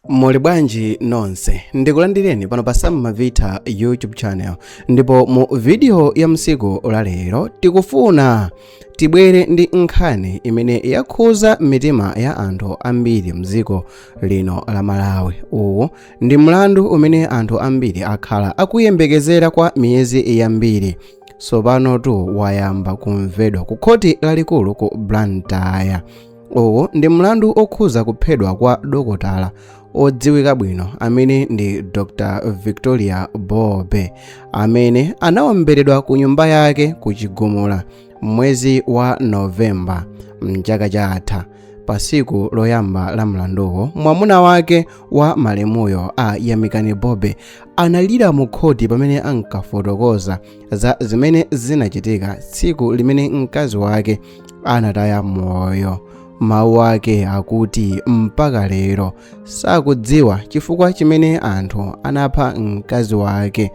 muli bwanji nonse ndikulandireni pano pa sam mavita youtube channel ndipo mu vidiyo ya tsiku la lero tikufuna tibwere ndi nkhani imene yakhuza mitima ya anthu ambiri mdziko lino la malawi uwu ndi mlandu umene anthu ambiri akhala akuyembekezera kwa miyezi yambiri tsopanotu wayamba kumvedwa ku khoti lalikulu ku blantyre uwu ndi mlandu okhuza kuphedwa kwa dokotala odziwika bwino amene ndi dr victoria bobe amene anawomberedwa ku nyumba yake ku chigumula m'mwezi wa novemba mchaka chatha pa siku loyamba la mlanduwo mwamuna wake wa malemuyo a yamikani bobe analira mu khoti pamene ankafotokoza za zimene zinachitika tsiku limene mkazi wake anataya moyo mawu ake akuti mpaka lero sakudziwa chifukwa chimene anthu anapha mkazi wake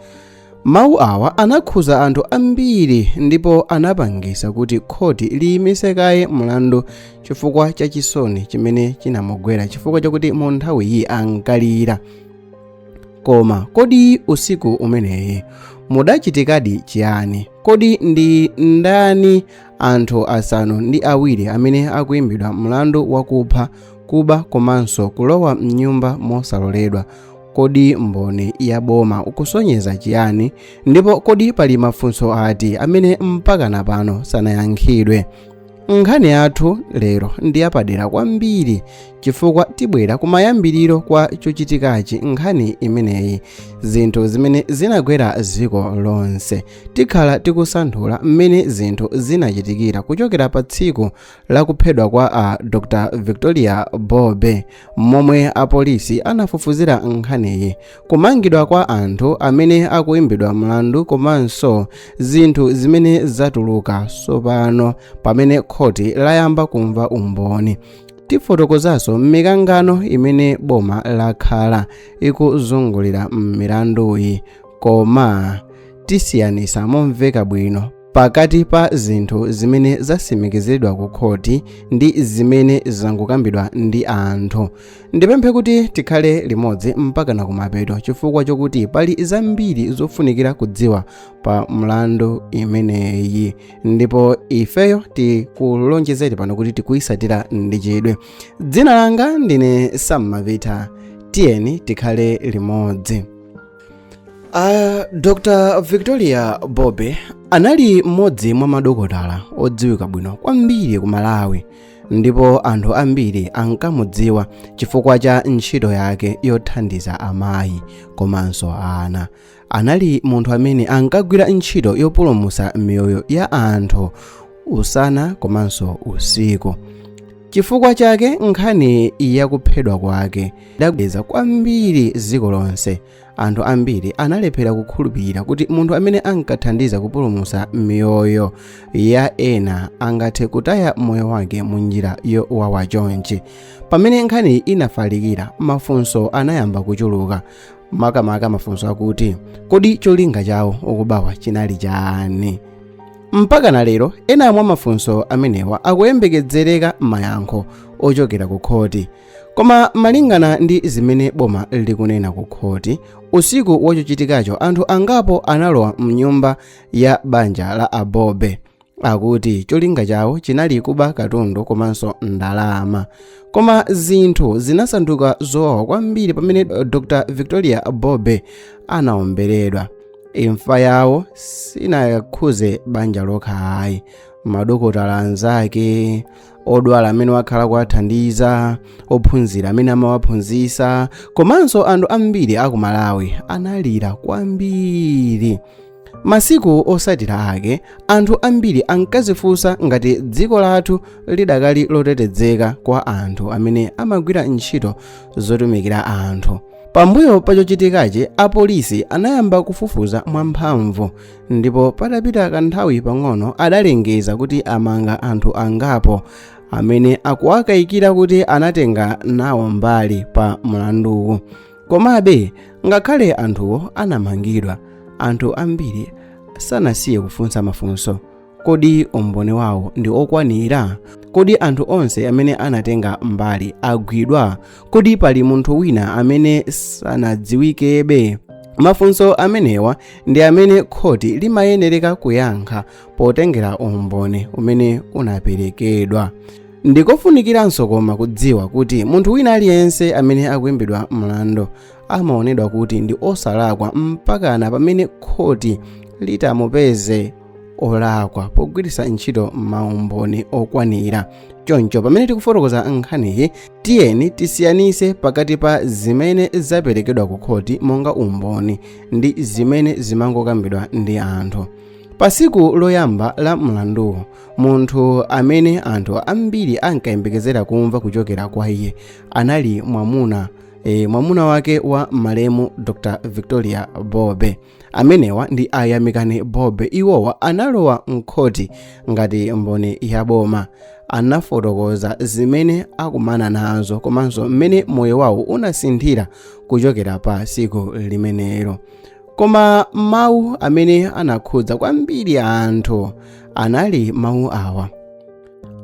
mawu awa anakhuza anthu ambiri ndipo anapangisa kuti khoti liyimise kaye mlandu chifukwa cha chisoni chimene chinamugwera chifukwa chakuti mu nthawiyi ankalira koma kodi usiku umeneyi mudachitikadi chiyani kodi ndi ndani anthu asanu ndi awiri amene akuimbidwa mlandu wakupha kuba komanso kulowa mnyumba mosaloledwa kodi umboni wa boma ukusonyeza chiyani ndipo kodi pali mafunso ati amene mpakana pano sanayankhidwe nkhani yathu lero ndi yapadera kwambiri chifukwa tibwera kumayambiriro kwa chochitikachi nkhani imeneyi zinthu zimene zinagwera dziko lonse tikhala tikusanthula mmene zinthu zinachitikira kuchokera pa tsiku la kuphedwa kwa a dr victoria bobe momwe apolisi anafufuzira nkhaniyi kumangidwa kwa anthu amene akuimbidwa mlandu komanso zinthu zimene zatuluka tsopano pamene khoti layamba kumva umboni tifotokozanso mikangano imene boma lakhala ikuzungulira milanduyi koma tisiyanisa momveka bwino pakati pa zinthu zimene zasimikizidwa ku khoti ndi zimene zangokambidwa ndi anthu ndipemphe kuti tikhale limodzi mpakana kumapeto chifukwa chokuti pali zambiri zofunikira kudziwa pa mlandu imeneyi ndipo ifeyo tikulonjezeti pano kuti tikuyisatira ndi chidwi dzina langa ndine sam mavita tiyeni tikhale limodzi Uh, dr victoria bobe anali mmodzi mwa madokotala odziwika bwino kwambiri ku malawi ndipo anthu ambiri ankamudziwa chifukwa cha ntchito yake yothandiza amayi komanso ana anali munthu amene ankagwira ntchito yopulumutsa miyoyo ya anthu usana komanso usiku chifukwa chake nkhani yakuphedwa kwake idagwedeza kwambiri dziko lonse anthu ambiri analephera kukhulupirira kuti munthu amene ankathandiza kupulumutsa miyoyo ya ena angathe kutaya moyo wake mu njira yowawa chonchi pamene nkhaniyi inafalikira mafunso anayamba kuchuluka makamaka mafunso akuti kodi cholinga cha wokubawa chinali chani mpaka na lero ena mwa mafunso amenewa akuyembekezereka mayankho ochokera ku khoti koma malingana ndi zimene boma likunena ku khoti usiku wa chochitikacho anthu angapo analowa mnyumba ya banja la a bobe akuti cholinga chawo chinali kuba katundu komanso ndalama koma zinthu zinasanduka zowawa kwambiri pamene dr victoria bobe anaomberedwa imfa yawo sinakhudze banja lokha ayi madokotala anzake odwala amene wakhala kuwathandiza ophunzira amene amawaphunzitsa komanso anthu ambiri a ku malawi analira kwambiri masiku otsatira ake anthu ambiri ankazifunsa ngati dziko lathu lidakali lotetezeka kwa anthu amene amagwira ntchito zotumikira anthu pambuyo pa chochitikachi apolisi anayamba kufufuza mwamphamvu ndipo patapita kanthawi pang'ono adalengeza kuti amanga anthu angapo amene akuwakayikira kuti anatenga nawo mbali pa mlanduwu komabe ngakhale anthuwo anamangidwa anthu ambiri sanasiye kufunsa mafunso kodi umboni wawo ndi okwanira kodi anthu onse amene anatenga mbali agwidwa kodi pali munthu wina amene sanadziwikebe mafunso amenewa ndi amene khoti limayenereka kuyankha potengera umboni umene unaperekedwa ndikofunikiranso koma kudziwa kuti munthu wina aliyense amene akuimbidwa mlandu amaonedwa kuti ndi osalakwa mpakana pamene khoti litamupeze olakwa pogwiritsa ntchito maumboni okwanira choncho pamene tikufotokoza nkhaniyi tiyeni tisiyanise pakati pa zimene zaperekedwa ku khoti monga umboni ndi zimene zimangokambidwa ndi anthu pa tsiku loyamba la mlanduwo munthu amene anthu ambiri ankayembekezera kumva kuchokera kwa iye anali mwamuna e, mwamuna wake wa malemu dr victoria bobe amenewa ndi a yamikani bobe iwowa analowa mkhoti ngati mboni ya boma anafotokoza zimene akumana nazo komanso mmene moyo wawo unasinthira kuchokera pa tsiku limenelo koma mawu amene anakhudza kwambiri anthu anali mawu awa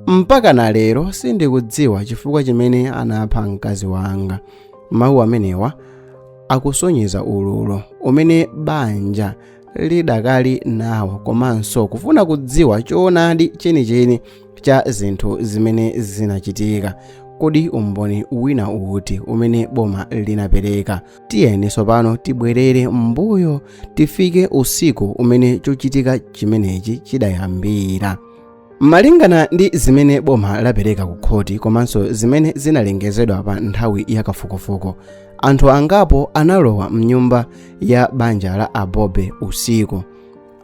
mpakana lero sindikudziwa chifukwa chimene anapha mkazi wanga mawu amenewa akusonyeza ululu umene banja lidakali nawo komanso kufuna kudziwa choonadi chenicheni cha zinthu zimene zinachitika kodi umboni wina uti umene boma linapereka tiyeni tsopano tibwerere mbuyo tifike usiku umene chochitika chimenechi chidayambira malingana ndi zimene boma lapereka ku khoti komanso zimene zinalengezedwa pa nthawi ya kafukufuku anthu angapo analowa mnyumba ya banja la a bobe usiku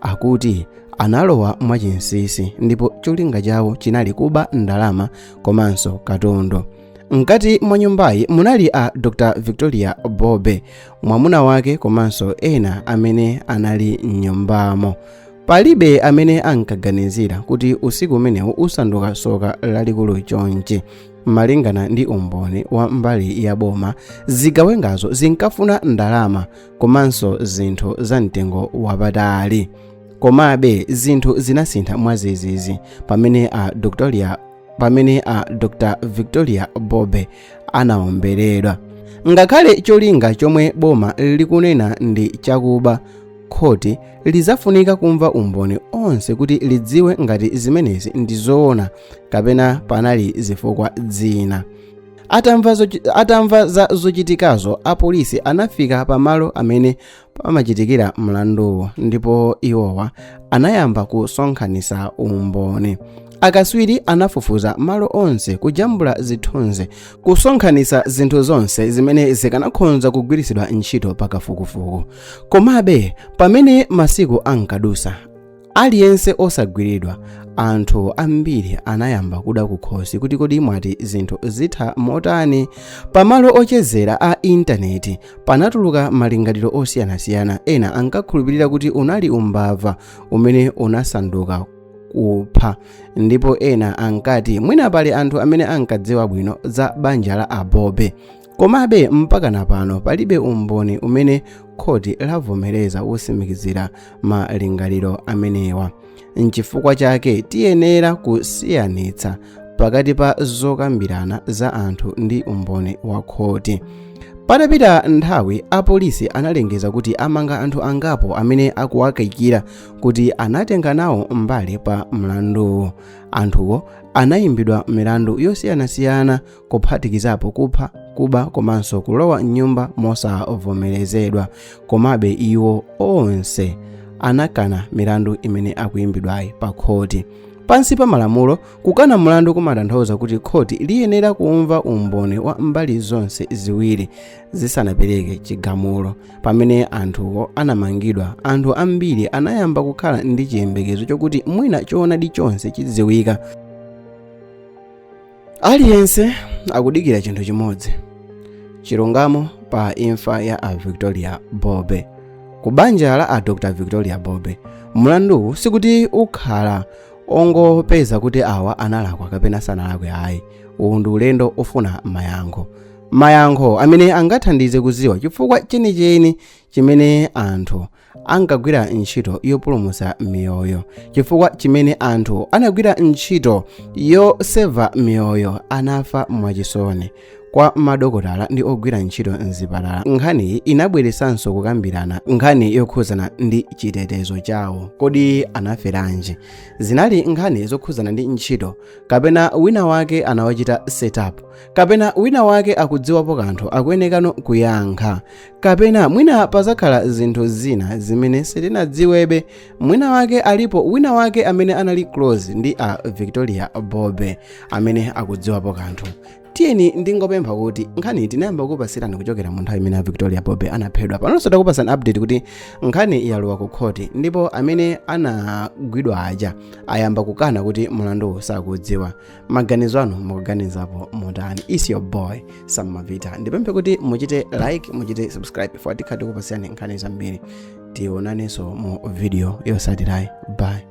akuti analowa mwachinsinsi ndipo cholinga chawo chinali kuba ndalama komanso katundu mkati mwa nyumbayi munali a dr victoria bobe mwamuna wake komanso ena amene anali mnyumbamo palibe amene ankaganizira kuti usiku umenewu usanduka soka lalikulu chonchi malingana ndi umboni wa mbali ya boma zigawengazo zinkafuna ndalama komanso zinthu za mtengo wapatali komabe zinthu zinasintha mwadzidzidzi pamene a doctoria pamene a dr victoria bobe anaomberedwa ngakhale cholinga chomwe boma likunena ndi chakuba khoti lidzafunika kumva umboni onse kuti lidziwe ngati zimenezi ndi zoona kapena panali zifukwa zina atamva, zochi, atamva za zochitikazo apolisi anafika pamalo amene pamachitikira mlanduwo ndipo iwowa anayamba kusonkhanitsa umboni akatswiri anafufuza malo onse kujambula zithunzi kusonkhanitsa zinthu zonse zimene zikanakhonza kugwiritsidwa ntchito pakafukufuku komabe pamene masiku ankadusa aliyense osagwiridwa anthu ambiri anayamba kuda kukhosi kuti kodi mwati zinthu zitha motani pamalo ochezera a intaneti panatuluka malingaliro osiyanasiyana ena ankakhulupirira kuti unali umbava umene unasanduka kupha ndipo ena ankati mwina pali anthu amene ankadziwa bwino za banja la a bobe komabe mpakana pano palibe umboni umene khoti lavomereza wotsimikizira malingaliro amenewa nchifukwa chake tiyenera kusiyanitsa pakati pa zokambirana za anthu ndi umboni wa khoti patapita nthawi apolisi analengeza kuti amanga anthu angapo amene akuwakayikira kuti anatenga nawo mbali pa mlanduwu anthuwo anayimbidwa milandu yosiyanasiyana kuphatikizapo kupha kuba komanso kulowa m'nyumba mosavomerezedwa komabe iwo onse anakana milandu imene akuyimbidwayi pa khoti pansi pa malamulo kukana mlandu kumatanthauza kuti khoti liyenera kumva umboni wa mbali zonse ziwiri zisanapereke chigamulo pamene anthuwo anamangidwa anthu ambiri anayamba kukhala ndi chiyembekezo chokuti mwina choonadi chonse chidziwika aliyense akudikira chinthu chimodzi chilungamo pa imfa ya a victoria bobe ku banja la a dr victoria bobe mlanduwu sikuti ukhala ongopeza kuti awa analakwa kapena sanalakwe ayi uwu ndi ulendo ofuna mayankho mayankho amene angathandize kuziwa chifukwa chenicheni chimene anthu ankagwira ntchito yopulumutsa miyoyo chifukwa chimene anthu anagwira ntchito yoseva miyoyo anafa mwachisoni kwa madokotala ndi ogwira ntchito mzipatala nkhaniyi inabweretsanso kukambirana nkhani yokhudzana ndi chitetezo chawo kodi anaferanji zinali nkhani zokhudzana ndi ntchito kapena wina wake anawachita setup kapena wina wake akudziwapo kanthu akuyenekano kuyankha kapena mwina pazakhala zinthu zina zimene sitinadziwebe mwina wake alipo wina wake amene anali close ndi a victoria bobe amene akudziwapo kanthu tiyeni ndingopempha kuti nkhani tinayamba kupasirani kuchokera mu nthawi imene a victoria bobe anaphedwa panonso takupasani update kuti nkhani yalowa ku khoti ndipo amene anagwidwa aja ayamba kukana kuti mulanduwu sakudziwa maganizo anu mukuganizapo motani is your boy sam mavita ndipemphe kuti muchite like muchite subscribe for tikha tikupasirani nkhani zambiri tionanenso mu video yosatirayi bye